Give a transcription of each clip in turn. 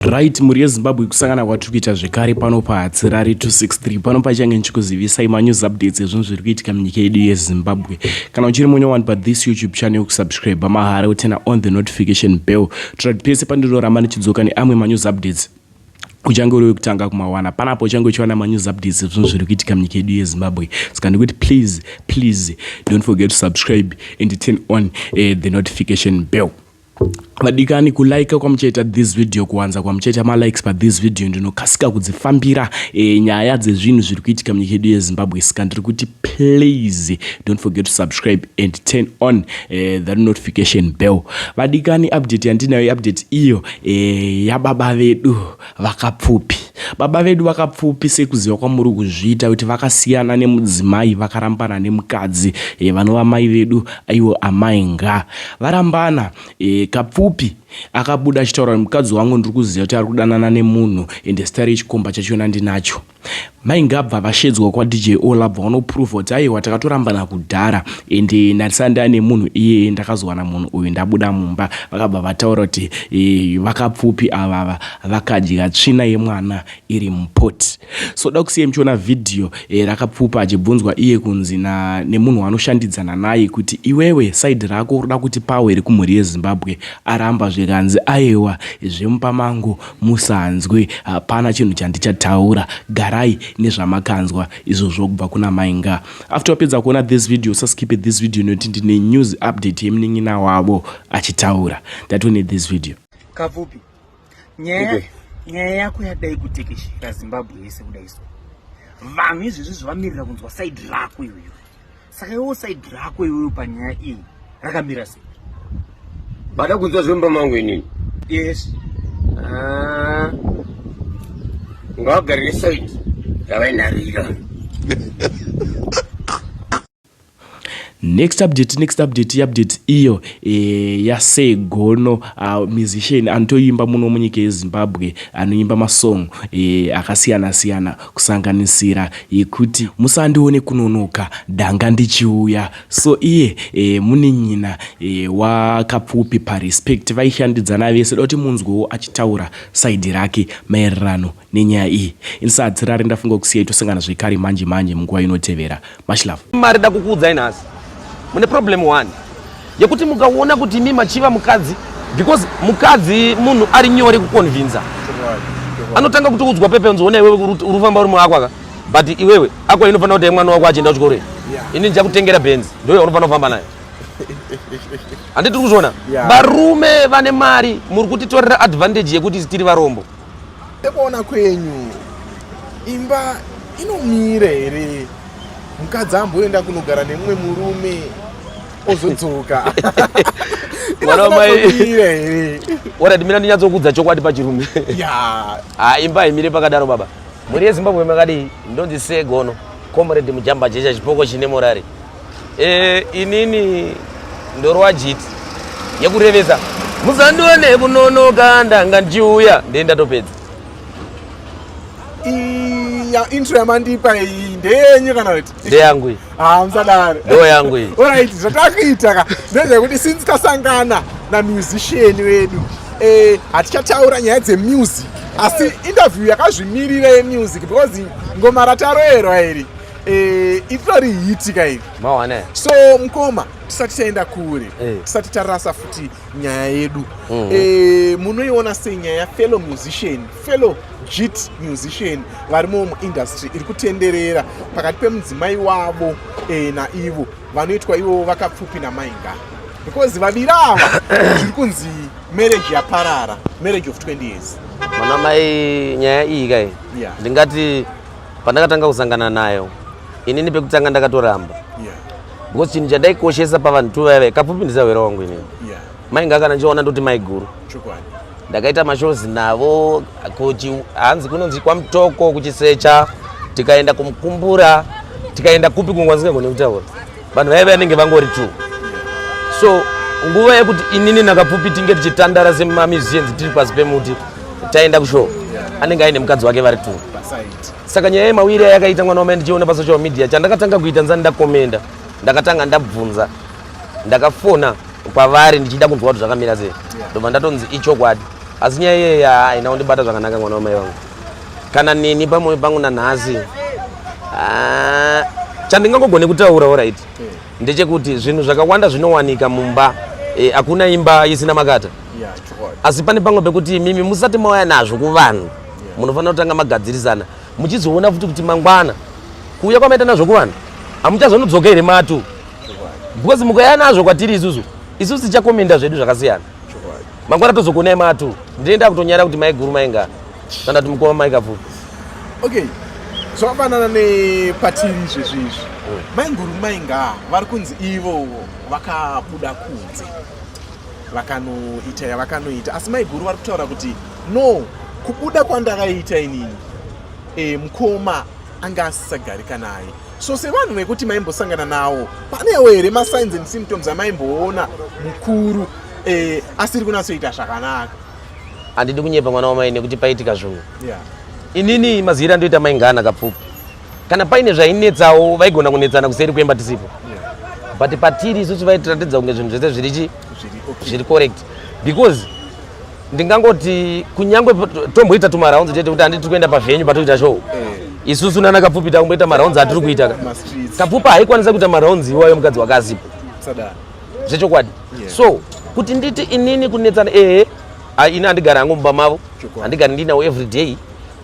Right, mhuri yeZimbabwe kusangana kwatiri kuita zvekare pano paHatsirari 263 pano pachange ndichikuzivisai manews updates ezvinhu zviri kuitika munyika yedu yeZimbabwe. Kana uchiri munyowani pathis YouTube channel kusubscribe mahara utena on the notification bell. Tira kuti pese pandinoramba ndichidzoka neamwe manews updates uchange uri wekutanga kumawana panapo uchange uchiwana manews updates ezvinhu zviri kuitika munyika yedu yezimbabwe saka ndikuti please please don't forget to subscribe and turn on uh, the notification bell vadikani kulike kwamuchaita this video kuwanza kwamuchaita malikes pathis video ndinokasika kudzifambira e, nyaya dzezvinhu zviri kuitika munyika yedu yezimbabwe sika ndiri kuti please don't forget to subscribe and turn on e, that notification bell vadikani update yandinayo update iyo e, yababa vedu vakapfupi baba vedu vakapfupi sekuziva kwamuri kuzviita kuti vakasiyana nemudzimai vakarambana nemukadzi e, vanova mai vedu aiwo amai nga varambana e, kapfupi akabuda achitaura kuti mukadzi wangu ndiri kuziva kuti ari kudanana nemunhu ende stari yechikomba chachiona ndinacho Mai Ngabva vashedzwa kwaDJ Ola bva vanoprova kuti aiwa takatorambana kudhara and ndarisana ndava nemunhu iyeye ndakazowana munhu uyu ndabuda mumba. Vakabva vataura kuti e, vakapfupi avava vakadya tsvina yemwana iri mupot. So da kusiya muchiona vhidhiyo e, eh, rakapfupa achibvunzwa iye kunzi na, nemunhu waanoshandidzana naye kuti iwewe saidi rako roda kuti pawo here kumhuri yeZimbabwe aramba zvikanzi aiwa zvemupamango Musanzwe hapana chinhu chandichataura garai nezvamakanzwa izvozvo kubva kuna mai nga. After wapedza kuona this video usaskipe this video nekuti ndine news update yemunin'ina wavo achitaura that we need this video. Kapfupi nyaya nyaya yako yadai kutekeshera Zimbabwe yese kudai so vanhu izvezvi zvamirira kunzwa side rako iyoyo. saka iwo saidi rako iweyo panyaya iyi rakamira sei bada kunzwa zvemba mangu inini yes ah. ngavagarire saidi yavainharira next update next update iupdate iyo e, eh, yasegono uh, ah, musician anotoimba muno munyika yezimbabwe anoimba masong e, eh, akasiyana siyana kusanganisira yekuti musandione kunonoka ndanga ndichiuya so iye e, munin'ina e, waKapfupi paRespect vaishandidzana vese da kuti munzwewo achitaura saidhi rake maererano nenyaya iyi. Ini saHadzirare ndafunga kusiya itosangana zvekare manje manje munguva inotevera. Much love. Mari da kukuudzai nhasi. Mune problem one. Yekuti mukaona kuti imi machiva mukadzi because mukadzi munhu ari nyore kuconvinza. Anotanga kuti udzwa pepe unzi ona iwewe uri famba uri mwako aka. But iwewe ako inofanira kuti mwana wako achienda kuchikoro. Ini ndichakutengera Benz. Ndio unofanira kufamba naye. Handiti tiri kuzviona? Varume vane mari muri kutitorera advantage yekuti tiri varombo. Sekuona kwenyu imba inomira here? Mukadzi amboenda kunogara nemumwe murume ozodzoka mwana wamai ora ndimira ndinyatsokudza chokwadi pachirume ha imba haimire pakadaro baba mhuri yezimbabwe makadii ndonzi segono comrade mujamba jecha chipoko chine morari Eh, inini ndorwa jiti yekurevesa musandione kunonoka ndanga ndichiuya ndee ndatopedza ya intro yamandipa iyi ndeyenyu kana kuti ndeyangu iyi ah musadaro ndo yangu iyi alright zvatakuita ka ndezvekuti since kasangana na musician wedu eh hatichataura nyaya dze music asi interview yakazvimirira ye music because ngoma rataroerwa iri Eh, itori hiti ka iri mawana so mkoma tisati taenda kure eh. tisati tarasa futi nyaya yedu mm. eh, munoiona sei nyaya yafellow musician fellow jit musician varimo muindustry iri kutenderera pakati pemudzimai wavo eh, naivo vanoitwa ivo vakapfupi namainga because vaviri ava zviri kunzi marriage yaparara marriage of 20 years mwana mai nyaya iyi kai yeah. ndingati pandakatanga kusangana nayo inini pekutanga ndakatoramba because chinhu chandaikoshesa pavanhu tu vaive kapfupi ndisahwera wangu inini mainga kana ndichiona ndoti maiguru ndakaita mashows navo hanzi kunonzi kwamutoko kuchisecha tikaenda kumukumbura tikaenda kupi kungwanzingagone kutaura vanhu vaive vanenge vangori two so nguva yekuti inini nakapfupi tinge tichitandara semamiziens tiri pasi pemuti taenda kushow anenge aine mukadzi wake vari two saka nyaya yemawiri ayakaita mwana wamai ndichiona pasocial media chandakatanga kuita nzani ndakomenda ndakatanga ndabvunza ndakafona kwavari ndichida kunzwa kuti zvakamira sei ndobva ndatonzi ichokwadi asi nyaya iyeyi haina kundibata zvakanaka mwana wamai vangu kana neni pamoyo pangu nanhasi ah, chandingangogone kutaura orit ndechekuti zvinhu zvakawanda zvinowanika mumba eh, hakuna imba isina makata asi pane pamwe pekuti mimi musati mauya nazvo kuvanhu munofanira kutanga magadzirisana muchizoona futi kuti mangwana kuuya kwamaita nazvo kuvanhu hamuchazonodzoka here matu because mukauya nazvo kwatiri isusu isusu tichakomenda zvedu zvakasiyana mangwana tozogonai matu ndinoenda kutonyara kuti maiguru mainga kana kuti mukoma maikafupi okay zvakafanana nepatiri izvezvi izvi hmm. mainguru mainga vari kunzi ivowo vakabuda kunze vakanoita yavakanoita asi maiguru vari kutaura kuti no kubuda kwandakaita inini e, mukoma anga asisagarika naye so sevanhu vekuti maimbosangana nawo panewo here masigns and symptoms amaimboona mukuru eh, asiri kunatsoita zvakanaka handidi kunyepa mwana wamai nekuti paitika zvinhu yeah. inini maziyiri andoita maingana kapfupi kana paine zvainetsawo vaigona kunetsana kuseri kuemba tisipo yeah. but patiri isusu vaitiratidza kunge zvinhu zvese zviri chi zviri okay. correct because ndingangoti kunyangwe tomboita tumaraunzi chete kuti handiti tiri kuenda pavenyu patoita show eh. isusu nana kapfupi takumboita maraunzi atiri kuita ka kapfupi haikwanisa kuita maraunzi iwayo mukadzi wakazipo zvechokwadi so kuti nditi inini kunetsana ehe ini handigari hangu mumba mavo handigari ndinawo everyday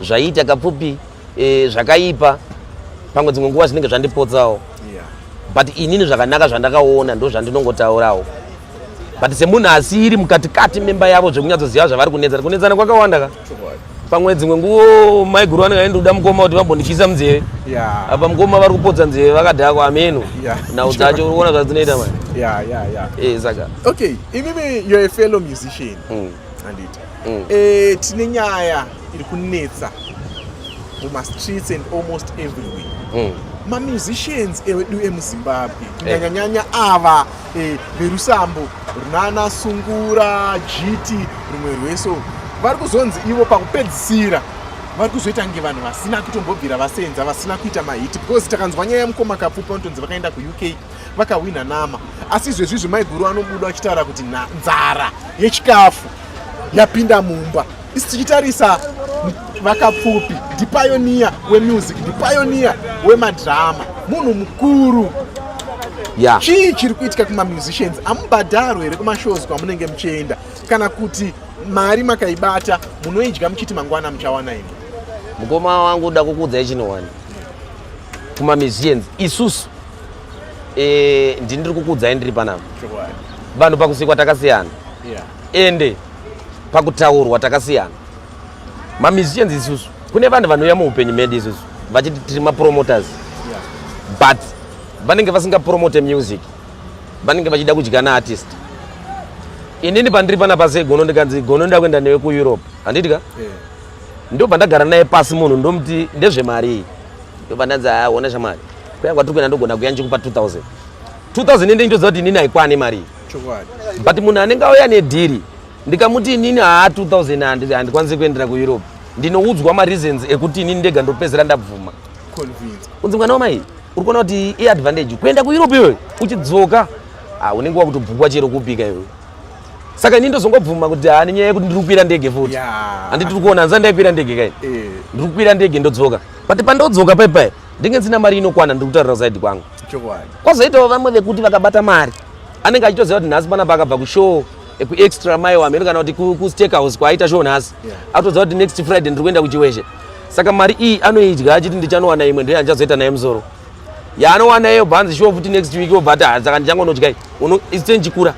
zvaiita kapfupi e, zvakaipa pamwe dzimwe nguva zvinenge zvandipotsawo yeah. but inini zvakanaka zvandakaona ndo zvandinongotaurawo but semunhu asiri mukatikati memba yavo zvekunyatsoziva zvavari kunetsana kunetsana kwakawanda ka pamwe dzimwe nguvo maiguru vanenge vaindoda mukoma kuti vambondityisa munzeve yeah. apa mukoma vari kupotsa nzeve vakadhakwa ameno yeah. nhau dzacho uri kuona zvadzinoita mani yeah, yeah, yeah. e, eh, saka okay imimi you're a fellow musician mm. anditi mm. e, tine nyaya iri kunetsa mumastreets and almost everywhere mm. mamusicians edu emuzimbabwe eh. kunyanyanyanya ava eh, verusambo runana sungura jiti rumwe rweso vari kuzonzi ivo pakupedzisira vari kuzoita nge vanhu vasina kutombobvira vasenza vasina kuita mahiti because takanzwa nyaya yamukoma kapfupi vanotonzi vakaenda kuuk vakahwina nama asi izvezvizvi maiguru anobuda vachitaura kuti nzara yechikafu yapinda mumba isi tichitarisa vakapfupi ndipayoniya wemusic ndipayoniya wemadrama munhu mukuru yeah. chii chiri kuitika kumamusicians amubhadharwe here kumashows kwamunenge muchienda kana kuti mari makaibata munoidya muchiti mangwana muchawana imi mukoma wangu da kukuudza ichinowani kumamusicians isusu e, ndini ndiri kukuudzai ndiri panapa vanhu pakusikwa takasiyana yeah. ende pakutaurwa takasiyana mamusicians isusu kune vanhu vanouya muupenyu medu isusu vachiti tiri mapromoters but vanenge vasingapromote music vanenge vachida kudya naartist inini pandiri pana pasi egono ndikanzi gono nda kuenda newe kueurope handiti ka eh. ndobva ndagara naye pasi munhu ndomuti ndezvemari iyi ndobva ndanzi aona shamari kuya kwatiri kuenda ndogona kuya ndichikupa 2000 2000 ende nditoziva kuti inini haikwani mari iyi but munhu anenge auya nedhiri ndikamuti inini haa 2000 handikwanisi kuendera kueurope ndinoudzwa mareasons ekuti inini ndega ndopedzera ndabvuma kunzi mwana wamai uri kuona kuti iadvantage kuenda kueurope iyoyo uchidzoka ah, unenge wakutobvukwa chero kupika iyoyo saka ini ndozongobvuma kuti haa nenyaya yekuti ndiri kukwira ndege futi handi tiri kuona hanzani ndaikwira ndege kai eh. ndiri kukwira ndege ndodzoka but pandodzoka paipai ndenge ndisina mari inokwana ndiri kutarira kusaidi kwangu kwazoitawo vamwe vekuti vakabata mari anenge achitoziva kuti nhasi panapa akabva kushow ekuextra mai wamheno kana kuti kustakehouse kwaaita show nhasi akutoziva kuti next friday ndiri kuenda kuchiwezhe saka mari iyi anoidya achiti ndichanowana imwe ndiyo yandichazoita naye musoro yaanowana iyo bhanzi shuwa futi next week obva ati saka ndichangonodyai isite ndichikura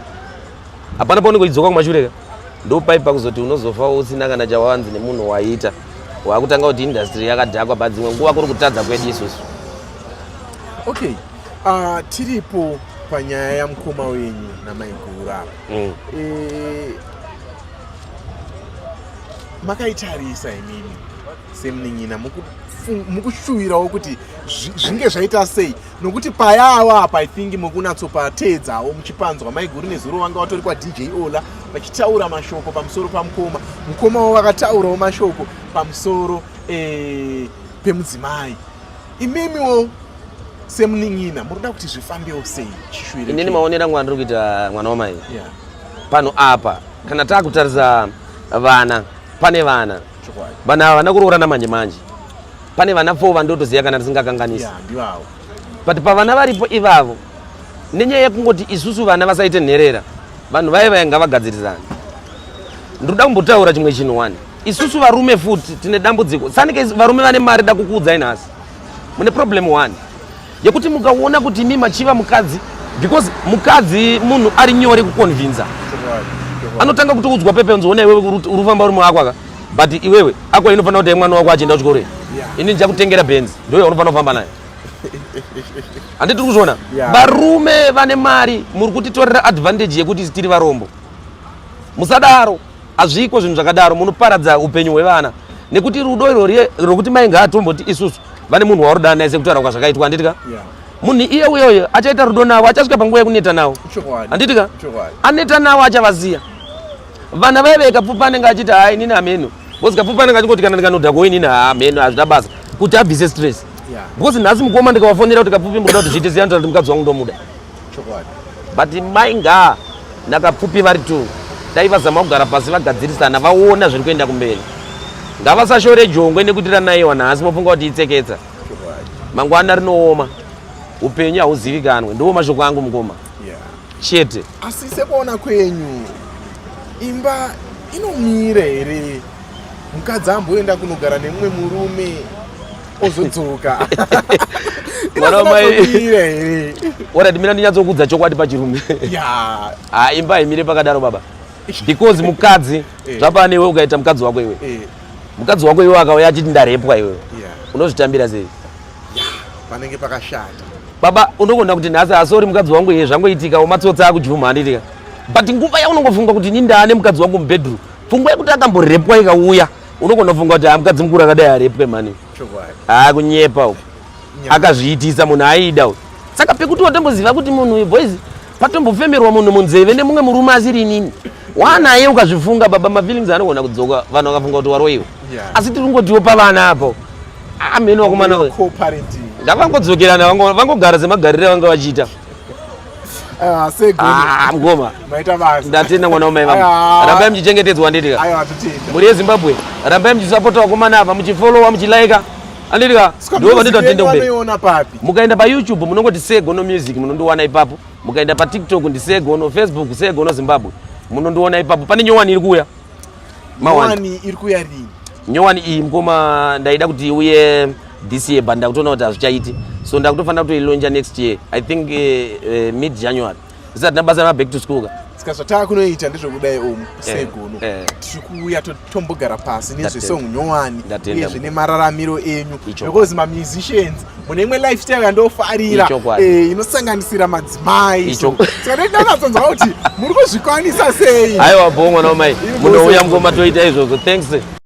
hapana paunenge uchidzoka kumashureka ndopai pakuzoti unozofa usina kana chawanzi nemunhu waita wakutanga kuti industry yakadhakwa bhadzimwe nguva kuri kutadza kwedu isusu okay Uh, tiripo panyaya yamukoma wenyu namaiguru apa mm. e, makaitarisa imimi semunin'ina mukushuvirawo kuti zvinge zvaita sei nokuti payawo apa i think mukunatsopateedzawo muchipanzwa maiguru nezuro vanga vatori kwadj ola vachitaura mashoko pamusoro pamukoma mukoma wavo vakataurawo mashoko pamusoro eh, pemudzimai imimiwo semunin'ina muri kuda kuti zvifambewo sei chishwiri inini maonera mwana ndiri kuita mwana wamai yeah. pano apa kana takutarisa vana pane vana vana havana kuroorana manje manje pane vana four vandotoziva kana tisingakanganisi yeah, but pavana varipo ivavo nenyaya yekungoti isusu vana vasaite nherera vanhu vaye vaye ngavagadzirisane ndiri kuda kumbotaura chimwe chinhu wani isusu varume futi tine dambudziko sanike varume vane mari da kukuudzai nhasi mune problem one yekuti mukaona kuti imi machiva mukadzi because mukadzi munhu ari nyore kuconvinza anotanga kuti udzwa pepe nzi ona iwewe urufamba uri mwako aka but iwewe ako inofanira kuti mwana wako achienda kuchikoro yeah. ini ndichakutengera benzi ndoyo unofanira kufamba naye handi tiri kuzviona varume vane mari muri kutitorera advantage yekuti tiri varombo musadaro Hazviko zvinhu zvakadaro munoparadza upenyu hwevana nekuti rudo irori rokuti mai ngaatomboti isusu vane munhu waurudana naye sekutaura kwa zvakaitwa handiti ka munhu iye uyoyo achaita rudo navo achasvika panguva yekuneta navo handiti ka aneta navo achavaziya vana vaive ikapfupa anenge achiti haa inini hameno bcause kapfupa anenge achingoti kana ndikanoda kuwe inini haa hameno hazvina basa kuti abvise stress bcause nhasi mukoma ndikawafonera kuti kapfupi mboda kuti zviite ziyanto kuti mukadzi wangu ndomuda but mai ngaa nakapfupi vari two dai vazama kugara pasi vagadzirisana vaona zviri kuenda kumberi ngavasashore jongwe nekuti ranaiwa nhasi mofunga kuti itseketsa mangwana rinooma upenyu hauzivikanwe ndiwo mashoko angu mukoma chete asi sekuona kwenyu imba inomira here mukadzi amboenda kunogara nemumwe murume ozodzoka mwana wamai ora timira ndinyatsokudza chokwadi pachirume ha imba haimire pakadaro baba because mukadzi eh. zvapane iwe ukaita mukadzi wako iwe eh. mukadzi wako iwe akauya achiti ndarepwa iwe unozvitambira sei panenge pakashata baba unokonda kuti nhasi asori mukadzi wangu iye zvangoitika wamatsotsa akujuma handitika but nguva yaunongofunga kuti nindane mukadzi wangu mubedroom pfungwa yekuti akamborepwa ikauya unogona kufunga kuti ah, mukadzi mukuru akadai arepwe mani haa ah, kunyepa u akazviitisa munhu aida u saka pekuti watomboziva kuti munhu uyu boys patombofemerwa munhu munzeve nemumwe murume asiri inini wanaye ukazvifunga baba mafeelings anogona kudzoka vanhu vakafunga kuti waroiwa asi tiri kungotiwo pavana apo amheni ah, wakomana ndakangodzokerana vangogara semagarire vanga vachiita Ah, ah, mgoma ndatenda mwana wamai vangu ah. rambai muchichengetedzwa anditika mhuri yezimbabwe rambai muchisapota vakomana ava muchifolowa muchilaika anditika ndivo vanditatenda kube mukaenda payoutube munongoti segono music munondiwana ipapo mukaenda patiktok ndisegono facebook segono zimbabwe munondiwana ipapo pane nyowani iri kuuya nyowani iri kuya rini nyowani iyi mkoma ndaida kuti uye this year but ndakutoona kuti hazvichaiti so ndakutofanira kutoilonja next year i think uh, uh, mid january zisati nabasa remaback to school ka ska zvataa kunoita ndezvekudai omu segunu eh, eh. tiri kuuya tombogara pasi nezvesong nyowani uyezve nemararamiro enyu because mamusicians mune imwe lifestyle yandofarira eh, inosanganisira madzimai saka ndanatsonzwa kuti muri kuzvikwanisa sei aiwa bho mwana wamai munouya mukoma toita izvozvo thanks